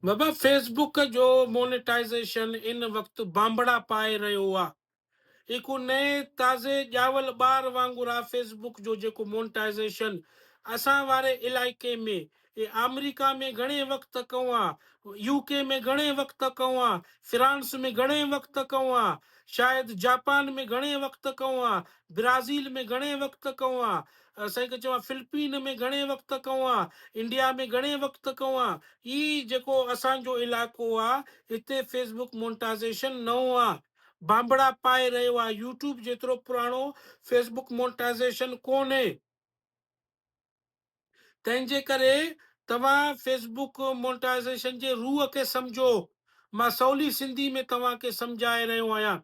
بابا Facebook جو مونيٽائزيشن ان وقت بانبڙا پائي رهيو آ هي ڪو نئين تازي ڄاول ٻار وانگر آ فيس بوڪ جو جيڪو مونيٽائزيشن اسان واري علائقي ۾ اي آمريڪا ۾ گهڻي وقت ڪئون آ يو ڪي ۾ گهڻي وقت ڪئون آ فرانس ۾ گهڻي وقت ڪئون آ شايد جاپان ۾ گهڻي وقت ڪئون آ برازيل ۾ گهڻي وقت ڪئون آ اسين کي چوان فلپين ۾ گهڻي وقت ڪوان انڊيا ۾ گهڻي وقت ڪوان هي جيڪو اسان جو علائقو آ هتي فيسبوڪ مونٽازيشن نئون آ بانبڙا پائي رهيو آ يوٽيوب جيترو پراڻو فيسبوڪ مونٽازيشن ڪونهي تنهن جي ڪري توهان فيسبوڪ مونٽازيشن جي روح کي سمجهو مان سولي سنڌي ۾ توهان کي سمجهائي رهيو آهيان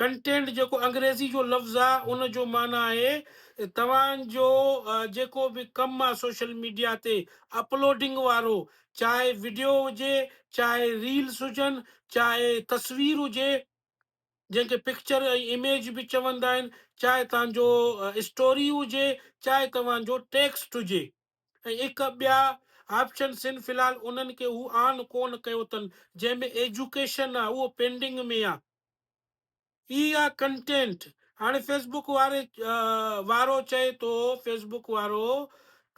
Content جيڪو انگريزي جو لفظ آ ان جو معنيٰ آهي ته توهان جو جيڪو به ڪم آ سوشل ميڊيا تي اپلوڊنگ وارو چاهي وڊيو هجي چاهي ريلس هجن چاهي تصوير هجي جنهن کي پڪچر ۽ اميج به چوندا آهن چاهي توهان جو اسٽوري هجي چاهي توهان جو ٽيڪسٽ هجي ۽ اک ٻيا آپشنس آهن في الحال انهن کي هو آن ڪون ڪيو اٿن جنهن ۾ ايجوڪيشن آ اهو پينڊنگ ۾ آ. ٿي يا ڪنٽينٽ هاڻي فيسبوڪ واري وارو چئي ٿو فيسبوڪ وارو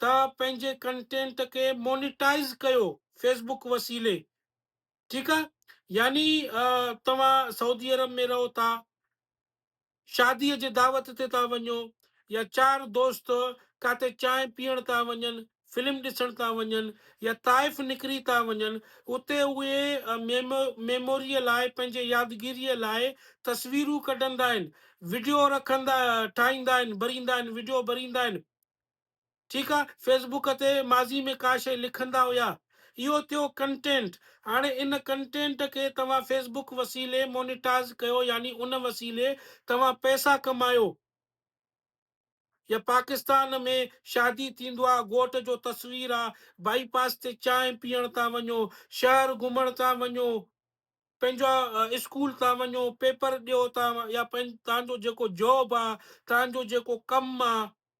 ته پنهنجي ڪنٽينٽ کي مونيٽائز ڪيو فيسبوڪ وسيلي ٺيڪ آ يعني توهان سعودي عرب ۾ رهو ٿا شاديء جي دعوت تي ٿا وڃو يا چار دوست ڪاتي چانهه پيئڻ ٿا وڃن، فلم ڏسڻ ٿا وڃن يا طائف نڪري ٿا وڃن، اتي اهي ميموريء لاء، پنهنجي يادگيريء لاء تصويرون ڪڍندا آهن، وڊيو رکندا، ٺاهيندا آهن، ڀريندا آهن، وڊيو ڀريندا آهن. ٺيڪ آ فيس بوڪ تي ماضي ۾ ڪا شئي لکندا هيا اهو ٿيو ڪنٽينٽ هاڻي ان ڪنٽينٽ کي توهان فيس بوڪ وسيلي مونيٽاز ڪيو يعني ان وسيلي توهان پئسا ڪمايو يا پاڪستان ۾ شادي ٿيندو آ گهوٽ جو تصوير آ بائي پاس تي چانهه پيئڻ ٿا وڃو شهر گهمڻ ٿا وڃو پنهنجا اسڪول ٿا وڃو پيپر ڏيو ٿا يا تنهنجو جيڪو جاب آ تنهنجو جيڪو ڪم آ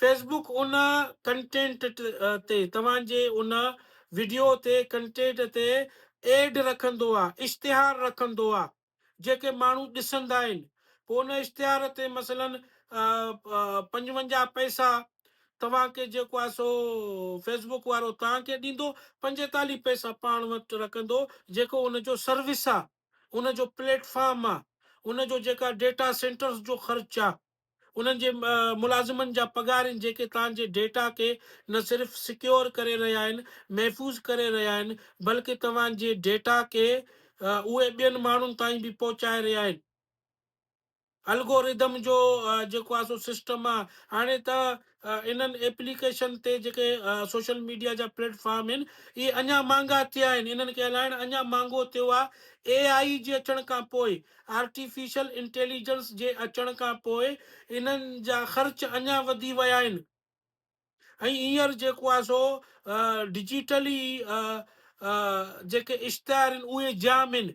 فيس بوڪ ان ڪنٽينٽ تي توهان جي ان وڊيو تي ڪنٽينٽ تي ايڊ رکندو آ اشتهار رکندو آ جيڪي ماڻهو ڏسندا آهن پو ان اشتهار تي مثلا پنجونجاهه پئسا توهان کي جيڪو آ سو فيس بوڪ وارو توهان کي ڏيندو پنجيتاليهه پئسا پاڻ وٽ رکندو جيڪو ان جو سروس آ ان جو پليٽ فارم آ ان جو جيڪا ڊيٽا سينٽرس جو خرچ آ انهن جي ملازمن جا پگهار آهن جيڪي توهان جي ڊيٽا کي نه صرف سڪيور ڪري رهيا آهن، محفوظ ڪري رهيا آهن، بلڪه توهان جي ڊيٽا کي اهي ٻين ماڻهن تائين به پهچائي رهيا آهن. الگوريڌم جو جيڪو آهي سو سسٽم آهي هاڻي ته انهن ايپليڪيشن تي جيڪي سوشل ميڊيا جا پليٽ فارم آهن اهي اڃا مهانگا ٿيا آهن، انهن کي هلائڻ اڃا مهانگو ٿيو آهي، اي آء جي اچڻ کان پوء، آرٽيفيشل انٽيليجنس جي اچڻ کان پوء انهن جا خرچ اڃا وڌي ويا آهن ۽ هينئر جيڪو آهي سو ڊجيٽلي جيڪي اشتهار آهن اهي جام آهن.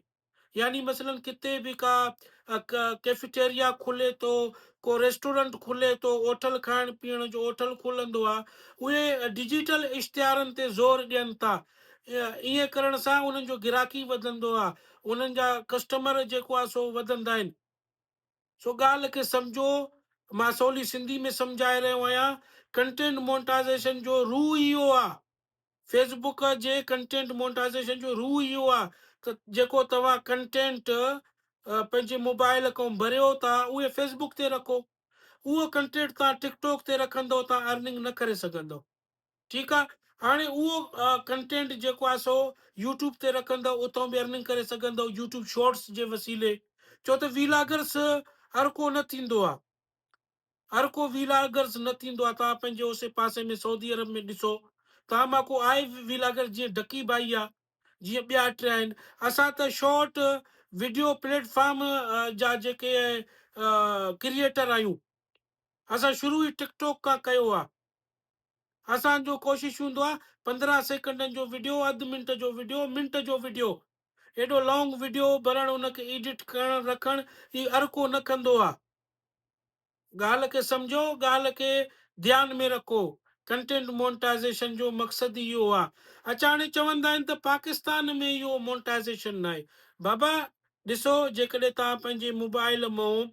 يعني مثلا ڪٿي به ڪا ڪيفيٽيريا کلي ٿو، ڪو ريسٽورنٽ کلي ٿو، اوٺل کائڻ پيئڻ جو اوٺل کلندو آ، اهي ڊجيٽل اشتهارن تي زور ڏين ٿا. ائين ڪرڻ سان انهن جو گراڪي وڌندو آ، انهن جا ڪسٽمر جيڪو آ سو وڌندا آهن. سو ڳالهه کي سمجهو، مان سولي سنڌي ۾ سمجهائي رهيو آهيان، ڪنٽينٽ مونٽائزيشن جو روح ئي اهو آهي، فيس بوڪ جي ڪنٽينٽ مونٽائزيشن جو روح ئي اهو آهي ته جيڪو توهان ڪنٽينٽ پنهنجي موبائل کان ڀريو ٿا اهي فيس بوڪ تي رکو، اهو ڪنٽينٽ توهان ٽڪ ٽوڪ تي رکندو توهان ارننگ نه ڪري سگهندو. ٺيڪ آ هاڻي اهو ڪنٽينٽ جيڪو آ سو يوٽيوب تي رکندؤ اتهون به ارننگ ڪري سگهندؤ يوٽيوب شارٽس جي وسيلي ڇو ته ويلاگرس هر ڪو نه ٿيندو آ هر ڪو ويلاگرس نه ٿيندو آ توهان پنهنجي اوسي پاسي ۾ سعودي عرب ۾ ڏسو توهان مان ڪو آهي ويلاگر جيئن ڊڪي ڀائي آ جيئن ٻيا ٽي آهن اسان ته شارٽ ويڊيو پليٽ فارم جا جيڪي ڪريئيٽر آهيون اسان شروع ئي ٽڪ ٽاڪ کان ڪيو آ اسان جو ڪوشش هوندو آ پندرهن سيڪنڊن جو وڊيو اڌ منٽ جو وڊيو منٽ جو وڊيو ايڏو لانگ وڊيو برڻ ان کي ايڊٽ ڪرڻ رکڻ هي ارڪو نه ڪندو آ ڳالهه کي سمجهو ڳالهه کي ڌيان ۾ رکو ڪنٽينٽ مونٽائزيشن جو مقصد ئي اهو آ اچاڻي چوندا آهن ته پاڪستان ۾ اهو مونٽائزيشن ناهي بابا ڏسو جيڪڏهن توهان پنهنجي موبائل مئون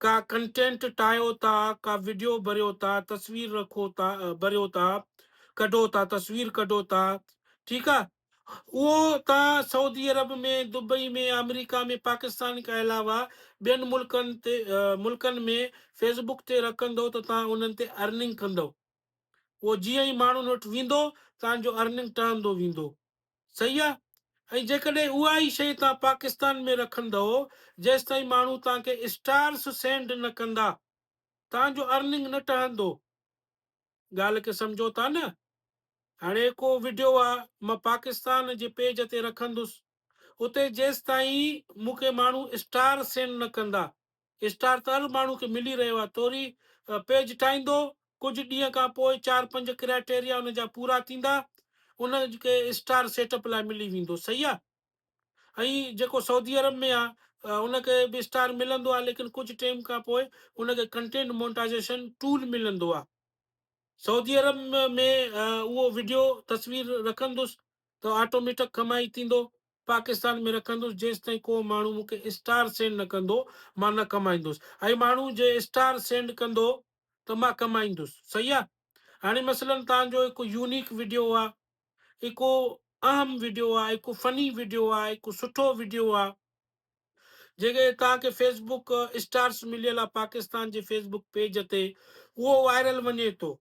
ڪا ڪنٽينٽ ٺاهيو ٿا، ڪا وڊيو ڀريو ٿا، تصوير رکو ٿا، ڀريو ٿا، ڪڍو ٿا، تصوير ڪڍو ٿا، ٺيڪ آ، اهو توهان Saudi Arab ۾ Dubai ۾ America ۾ Pakistan کان علاوه ٻين ملڪن تي ملڪن ۾ فيس بڪ تي رکندو ته توهان انهن تي ارننگ ڪندو، اهو جيئن ئي ماڻهن وٽ ويندو توهان جو ارننگ ٽهندو ويندو. صحيح آ ۽ جيڪڏهن اها ئي شيء توهان پاڪستان ۾ رکندئو جيستائين ماڻهو توهان کي اسٽارس سينڊ نه ڪندا توهان جو ارننگ نه ٽهندو ڳالهه کي سمجهو ٿا نه هاڻي هڪو وڊيو آ مان پاڪستان جي پيج تي رکندس اتي جيستائين مون کي ماڻهو اسٽار سينڊ نه ڪندا اسٽار تر ماڻهو کي ملي رهيو آهي توري پيج ٺاهيندو ڪجهه ڏينهن کان پوء چار پنج ڪرائيٽيريا ان جا پورا ٿيندا ان کي اسٽار سيٽ اپ لاء ملي ويندو صحيح آهي ائين جيڪو سعودي عرب ۾ آهي ان کي به اسٽار ملندو آهي ليڪن ڪجهه ٽيم کان پوء ان کي ڪنٽينٽ مونٽائزيشن ٽول ملندو آهي سعودي عرب ۾ اهو وڊيو تصوير رکندس ته آٽوميٽڪ ڪمائي ٿيندو پاڪستان ۾ رکندس جيستائين ڪو ماڻهو مون کي اسٽار سينڊ نه ڪندو مان نه ڪمائيندس ۽ ماڻهو جي اسٽار سينڊ ڪندو ته مان ڪمائيندس صحيح آ هاڻي مثلا تان جو هڪ يونيڪ ويڊيو آ هڪو اهم ويڊيو آ هڪو فني ويڊيو آ هڪو سٺو ويڊيو آ جيڪي تان کي فيس بوڪ اسٽارس مليل آ پاڪستان جي فيس بوڪ پيج تي اهو وائرل وڃي ٿو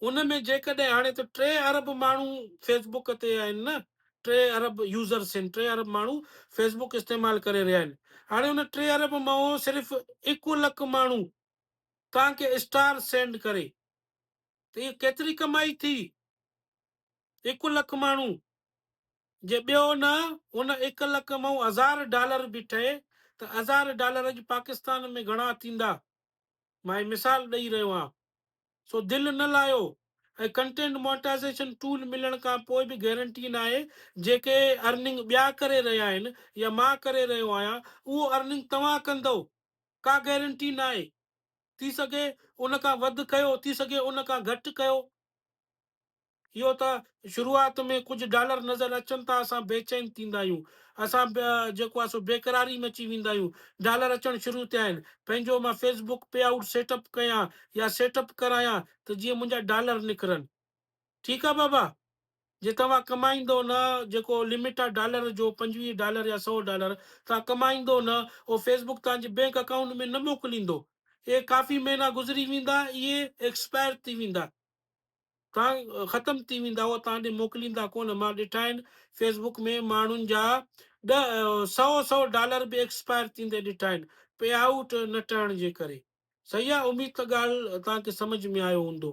ان ۾ جيڪڏهن هاڻي ته ٽي ارب ماڻهو فيس بوڪ تي آهن نه ٽي ارب يوزرس آهن ٽي ارب ماڻهو فيس بوڪ استعمال ڪري رهيا آهن هاڻي ان ٽي ارب مئو صرف اڪو لک ماڻهو توهان کي اسٽار سينڊ ڪري ته هي ڪيتري ڪمائي ٿي اڪو لک ماڻهو جي ٻيو نه ان اڪ لک مئو هزار ڊالر به ٺهي ته هزار ڊالر اڄ پاڪستان ۾ گهڻا ٿيندا مان مثال ڏئي رهيو آهيان سو دل نه لاهيو ۽ ڪنٽينٽ مونيٽائيزيشن ٽول ملڻ کان پوء به گيرنٽي ناهي جيڪي ارننگ ٻيا ڪري رهيا آهن يا مان ڪري رهيو آهيان اهو ارننگ توهان ڪندئو ڪا گيرنٽي ناهي ٿي سگهي ان کان وڌ ڪيو ٿي سگهي ان کان گهٽ ڪيو. اهو ته شروعات ۾ ڪجهه ڊالر نظر اچن ٿا اسان بيچين ٿيندا آهيون اسان جيڪو آهي سو بيقراري ۾ اچي ويندا آهيون ڊالر اچڻ شروع ٿيا آهن پنهنجو مان Facebook payout set up ڪيان يا سيٽ اپ ڪرايان ته جيئن منهنجا ڊالر نڪرن ٺيڪ آهي بابا جي توهان ڪمائيندو نه جيڪو لمٽ آهي ڊالر جو پنجويهه ڊالر يا سو ڊالر توهان ڪمائيندو نه اهو فيس بڪ توهان جي بينڪ اڪائونٽ ۾ نه موڪليندو اهي ڪافي مهينا گذري ويندا اهي ايڪسپائر ٿي ويندا توهان ختم ٿي ويندا هئا توهان ڏي موڪليندا ڪونه مان ڏٺا آهن فيس بڪ ۾ ماڻهن جا ڏه سئو سئو ڊالر به ايڪسپائر ٿيندي ڏٺا آهن پي آئوٽ نه ٺهڻ جي ڪري صحيح آ اميد ته ڳالهه توهان کي سمجهه ۾ آيو هوندو.